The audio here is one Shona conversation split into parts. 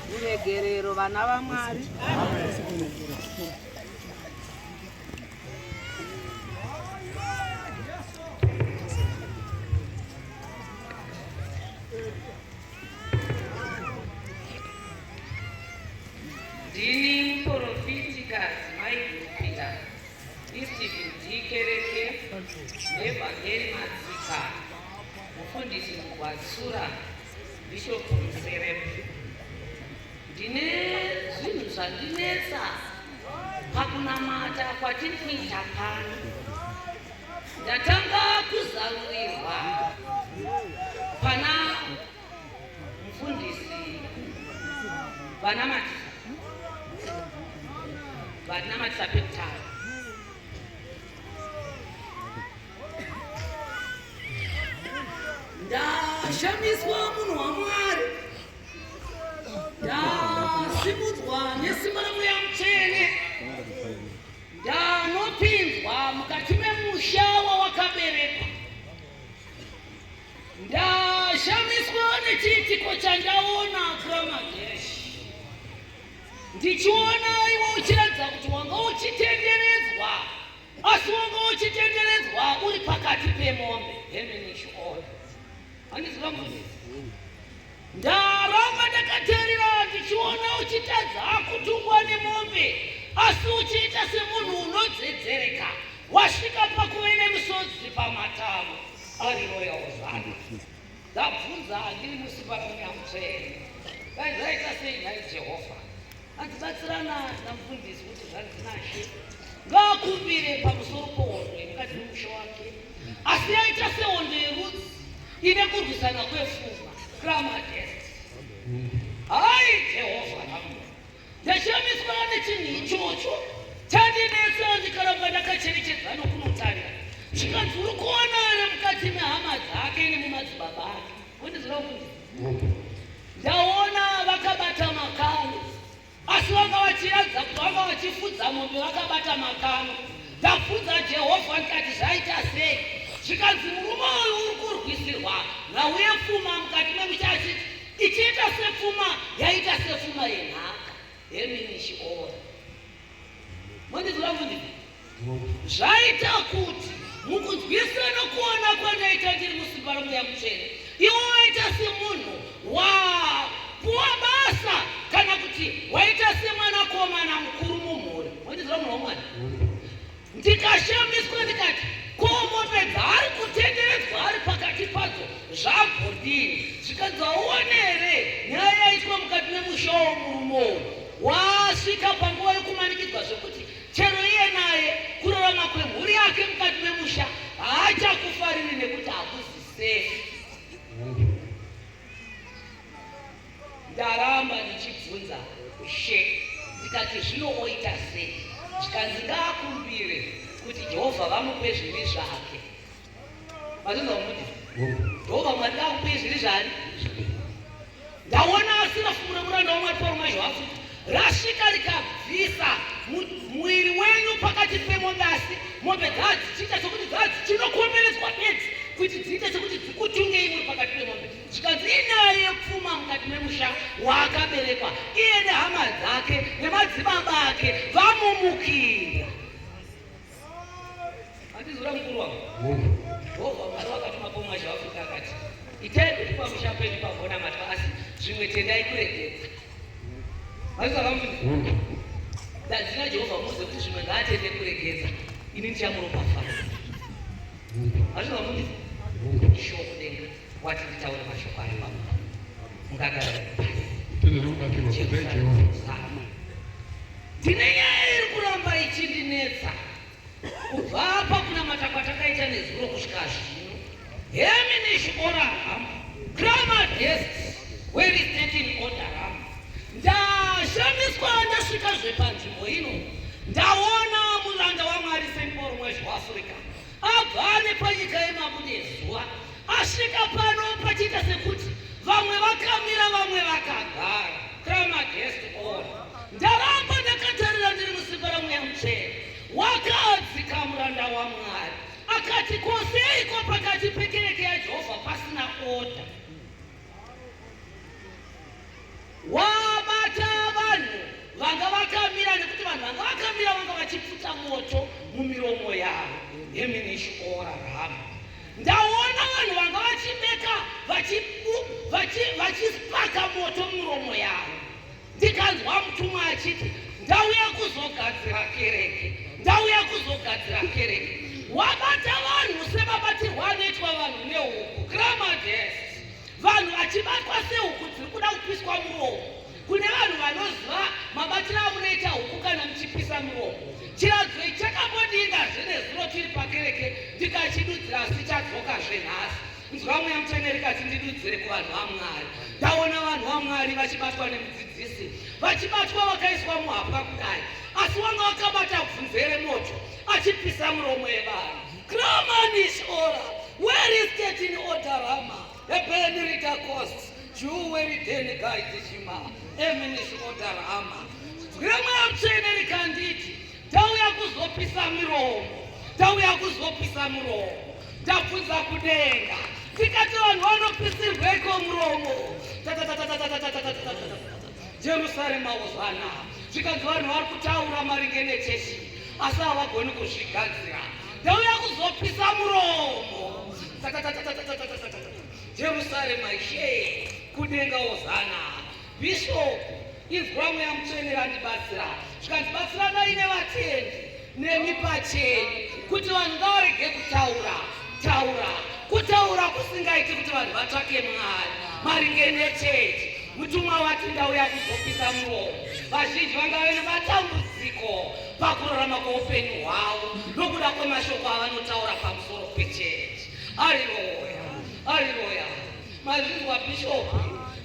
Ruregerero vana vaMwari. Ndini muporofitikazi Maiguru Peter. Istibidi kereke nevhangeri madzika mufundisi mugwatsura bishop muserep ndine zvinhu zvandinetsa pakunamata kwatiri kuita pano ndatanga kuzarurirwa pana Mfundisi vanamatisa vanamatisa pekutanga ndashamiswa munhu wamwari ndasimudzwa nesimba ramweya mutsvene ndanopinzwa mukati memusha wawakaberekwa Ndashamiswa nechiitiko chandaona Pramagesh. Ndichiona iwe uchiratidza kuti wanga uchitenderedzwa asi wanga uchitenderedzwa uri pakati pemombe hemenishi oyo handiziva mune ndaramba ndakaterera ndichiona uchitadza kutungwa nemombe asi uchiita semunhu unodzedzereka wasvika pakuve nemusodzi pamatavo Ari royal zvake. Ndabvunza handiri musimba munyamutsvene. Dai zvaita sei nhai Jehovha? Andibatsirana namufundisi kuti zvanzi nashe. Ngaakumbire pamusoro pohondo yemukati memusha wake. Asi yaita sehondo yerudzi ine kurwisana kwefunga. Grama test. Hai Jehovha namwe. Ndashamiswawo nechinhu ichocho chandinetsa ndikaramba ndakacherechedza nokunotarira zvikanzi uri kuona ari mukati mehama dzake nemumadzibaba ake wondizvira kuti ndaona vakabata makano asi vanga vachiratidza kuti vanga vachifudza mombe vakabata makano ndabvunza jehovha ndikati zvaita sei zvikanzi murume uyu uri kurwisirwa nhauye pfuma mukati memuchachiti Ichiita sepfuma yaita sepfuma yenhaka hemini chiona mondizwa kuti zvaita kuti mukunzwisana kuona kwandaita ndiri musimba romweya mutsvene iwo waita semunhu wapuwa basa kana kuti waita semwanakomana mukuru mumhuri mondizwa munhu womwana ndikashamiswa ndikati ko mombe dzaari kutenderedzwa ari pakati padzo zvabhodii zvikanzi auone here nyaya yaitwa mukati memusha womurume uyu waasvika panguva yokumanikidzwa zvekuti chero iye naye kurarama kwemhuri yake mukati memusha haachakufariri nekuti hakuzisefi Ndaramba ndichibvunza She ndikati zvino oita sei? Zvikanzi ngaakumbire kuti Jehovha vamupe zvivi zvake. Mazvinzwa kuti Jehovha Mwari ngaakupe zvivi zvani? Ndaona asina fumura muranda waMwari Pauro Mazhwafu rasvika rikabvisa muviri wenyu pakati pemombe asi mombe dzadzichiita sokuti dzadzichinokomberedzwa bedzi kuti dziite sekuti dzikutungei muri pakati pemombe Zvikanzi inyaya yepfuma mukati memusha waakaberekwa iye nehama dzake nemadzibaba ake vamumukira. Andizura mukuru wangu. Jehovha Mwari wakatuma pomwa zvaafika akati itai kuti pamusha penyu pagona matwa asi zvimwe tendai kuregedza. Vazisa vamuviri. Dadzina Jehovha muuze kuti zvimwe ngaatende kuregedza ini ndichamuropafadza. Vazisa vamuviri. Shoko denga. wati nditaure mashoko ari maoko mukagara ndine nyaya iri kuramba ichindinetsa kubva apa kunamata kwatakaita nezuro kusvika zvino heminish ora ham grama guests were stating order ham ndashamiswa ndasvika zvepanzvimbo ino ndaona muranda wamwari semporo mwezveafrica agare panyika yemabudezuva asvika pano pachiita sekuti vamwe vakamira vamwe vakagara kamagest on ndaramba ndakatarira ndiri musimba ramweya muchena wakadzika muranda wamwari akati koseiko pakati pekereke yajehovha pasina oda wabata vanhu vanga vakamira nekuti vanhu vanga vakamira vanga vachipfuta moto mumiromo yavo yeminishiorarama ndaona vanhu vanga vachibeka vachipaka moto mumiromo yavo Ndikanzwa mutumwa achiti, Ndauya kuzogadzira kereke, ndauya kuzogadzira kereke. Wabata vanhu sevabatirwa anoitwa vanhu nehuku, gramadest. Vanhu vachibatwa sehuku dziri kuda kupiswa muromo. Kune vanhu vanoziva mabatiro amunoita huku kana muchipisa muromo. Chiradzo ichi chakambodinga zvenezuro tiri pakereke ndikachidudzira asi chadzoka zvenhasi. Nzwa Mweya Mutsvene rikati ndidudzire kuvanhu vaMwari. Ndaona vanhu vaMwari vachibatwa nemudzidzisi, vachibatwa vakaiswa muhapwa kudai, asi wanga wakabata bvunze remoto achipisa muromo yevanhu. Kramanish ora where is getting odarama ebeni rita costs juweri deni gaidishima eminish odarama. Nzwira Mweya Mutsvene rikanditi Tauya kuzopisa miromo, tauya kuzopisa muromo, tabvunza kudenga tikati vanhu vanopisirweko muromo. Jerusarema wozvana zvikanzi vanhu vari kutaura maringe nechechi asi havagoni kuzvigadzira. Tauya kuzopisa muromo. Jerusarema ishe kudenga wozana bishopu Inzwa mweya mutsvene vandibatsira zvikanzi batsiranai nevatendi nemi pachenyu kuti vanhu ngavarege kutaura taura kutaura kusingaiti kuti vanhu vatsvake mwari maringe nechechi mutumwa wati ndauya kuzopisa muromo vazhinji vanga vene matambudziko pakurarama kweupenyu hwavo nokuda kwemashoko avanotaura pamusoro pechechi ariroya ariroya Mazvinzwa Bishop,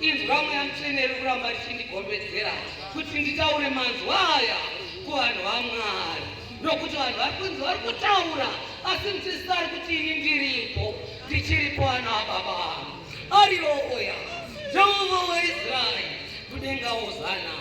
inzwa mweya mutsvene iri kuramba richindigombedzera kuti nditaure manzwa aya kuvanhu vaMwari, nokuti vanhu vari kunzi vari kutaura asi muchisari kuti ini ndiripo, ndichiripo ana ababa vangu ariyo oya Jehovha weIsraeri kudenga ozana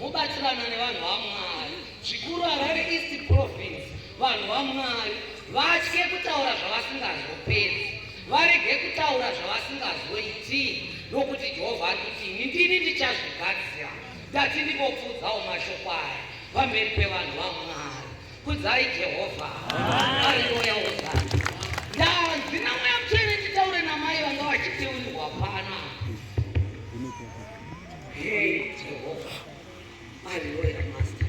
mubatsirana nevanhu vaMwari zvikuru Harare East Province, vanhu vaMwari vatye kutaura zvavasingazopedzi Varege kutaura zvavasingazoiti, nokuti Jehovha ari kuti, Ini ndini ndichazvigadzira. Ndati ndimbopfuudzawo mashoko aya pamberi pevanhu vaMwari. Kudzai Jehovha. Haleluya, hosana. Ndanzi namweya mutsvene nditaure namai vanga vachiteurirwa pana. Hey, Jehovha. Haleluya, Master.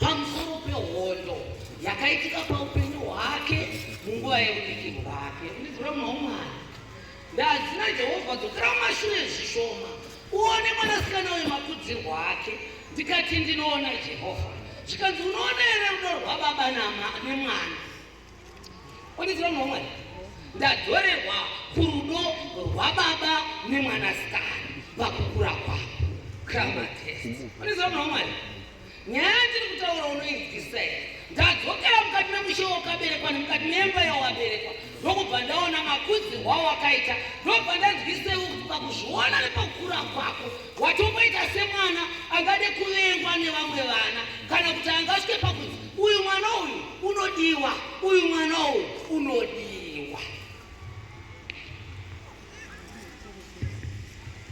pamusoro pehondo yakaitika paupenyu hwake munguva yeudikiro rake ndizvira muna umwana ndadzina jehovha dzokera mumashure zvishoma uone mwanasikana uyu makudzirwo ake ndikati ndinoona jehovha zvikanzi unoona here rudo rwababa nemwana Kwanidzira mumwe ndadzorerwa kurudo rwababa nemwanasikana vakukura kwavo grammar test. Kwanidzira mwana wamwari nyaya yatiri kutaura unoinzwisisa here? Ndadzokera mukati memushe wakaberekwa nemukati memba yawaberekwa ndokubva ndaona makudzirwa wakaita ndobva ndanzwisei ukubva kuzviona nepakukura kwako Watomboita semwana angade kuvengwa nevamwe vana kana kuti angasvike pakuti uyu mwana uyu unodiwa, uyu mwana uyu unodiwa.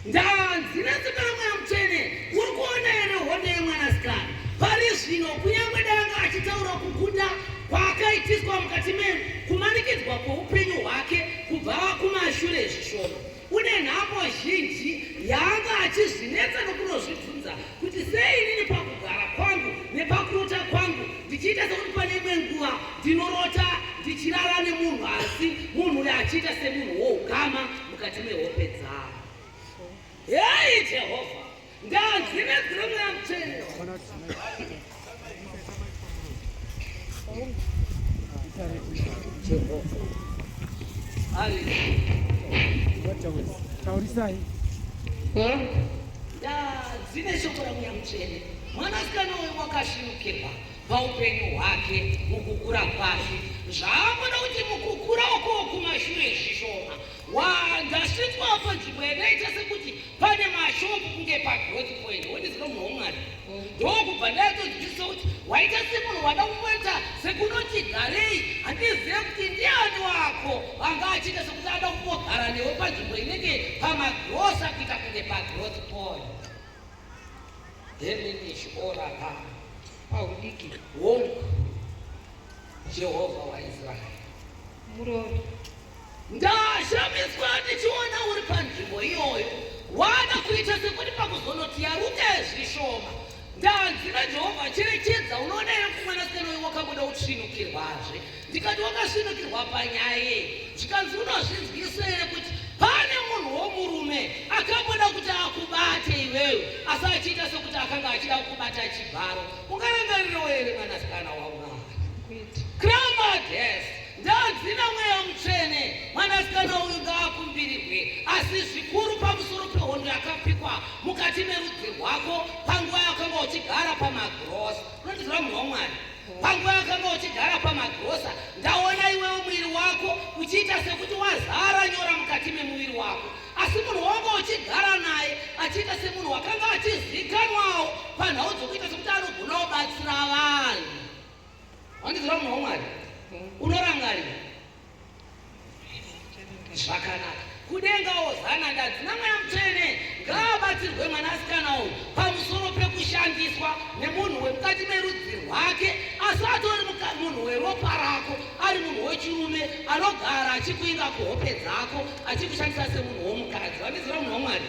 Ndanzi nezita ramweya mutsvene uri kuona here hondo yemwanasikana pari zvino, kunyange danga achitaura kukunda kwaakaitiswa mukati menu kumanikidzwa kweupenyu hwake kubva kumashure zvishoma Une nhamo zhinji yaanga achizvinetsa nokunozvibvunza kuti sei inini pakugara kwangu nepakurota kwangu ndichiita sekuti pane imwe nguva ndinorota ndichirara nemunhu asi munhu uyo achiita semunhu woukama mukati mehope dzavo. Hei Jehovha! Taurisai. Dzine shoko la mweya mutsvene. Mwanasikana uyu wakashirukirwa paupenyu hwake mukukura kwake. Zvaakuda kuti mukukura uko kumashure zvishoma. Waa ndasvitswa apa nzvimbo yakaita sekuti pane mashop kunge pagrowth point wondizino munhu womwari ndokubva ndayatonzwisisa kuti waita semunhu wada kumboita sekunoti garei handizive kuti ndiani wako vanga achiita sekuti ada kumbogara newe panzvimbo inenge pamagrosa kuita kunge pagrowth point heminish oraka paudiki wonk jehovha waisraeri murori Ndashamiswa ndichiona uri panzvimbo iyoyo wana kuita sekuti pakuzonoti yaruka zvishoma ndanzi naJehovha cherechedza unoona here kuti mwanasikana uyu wakabuda utsvinukirwazve ndikati wakasvinukirwa panyaya yei zvikanzi unozvinzwisa here kuti pane munhu womurume akamboda kuti akubate iwewe asi achiita sekuti akanga achida kukubata chibharo ungarangarirewo here mwanasikana wamwari kramades Ndadzina mweya mutsvene, mwanasikana uyu ngaakumbirirwe, asi zvikuru pamusoro pehondo yakapikwa mukati merudzi rwako panguva yakanga uchigara pamagrosa. Unondiziva munhu waMwari? Panguva yakanga uchigara pamagrosa, ndaona iwewo muviri wako uchiita sekuti wazara nyora mukati memuviri wako, asi munhu wanga uchigara naye achiita semunhu wakanga achizikanwawo panhau dzokuita sekuti anogona kubatsira vanhu. Wandiziva munhu waMwari? Unorangarira zvakanaka kudenga ozana ndadzi namweya mutsvene ngaabatsirwe mwanasikana uyu pamusoro pekushandiswa nemunhu wemukati merudzi rwake asi atori munhu weropa rako ari munhu wechirume anogara achikuinga kuhope dzako achikushandisa semunhu womukadzi vandiziva munhu wamwari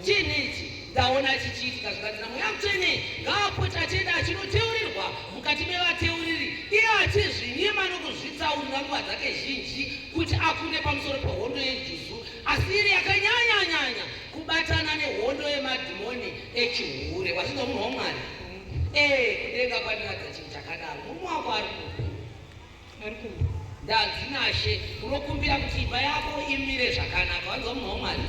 Chinhu ichi ndaona chichiitika zvikanzi naMweya Mutsvene ngaapote achienda achinoteurirwa mukati mevateuriri iye achizvinyima nokuzvitsaurira nguva dzake zhinji kuti akunde pamusoro pehondo yejuzu asi iri yakanyanyanyanya kubatana nehondo yemadhimoni echihure wazvinzwa munhu wamwari ee kudenga kwandinadza chinhu chakadaro murume wako ari kupi Dadzinashe, unokumbira kuti imba yako imire zvakanaka, wanzwa munhu waMwari?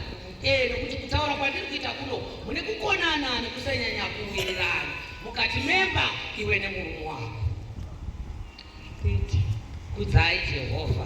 Eh, nokuti kutaura kwandiri kuita kuno mune kukonana nekusanyanya kuwirirana mukati memba iwe nemurume wako. Kudzai Jehovha.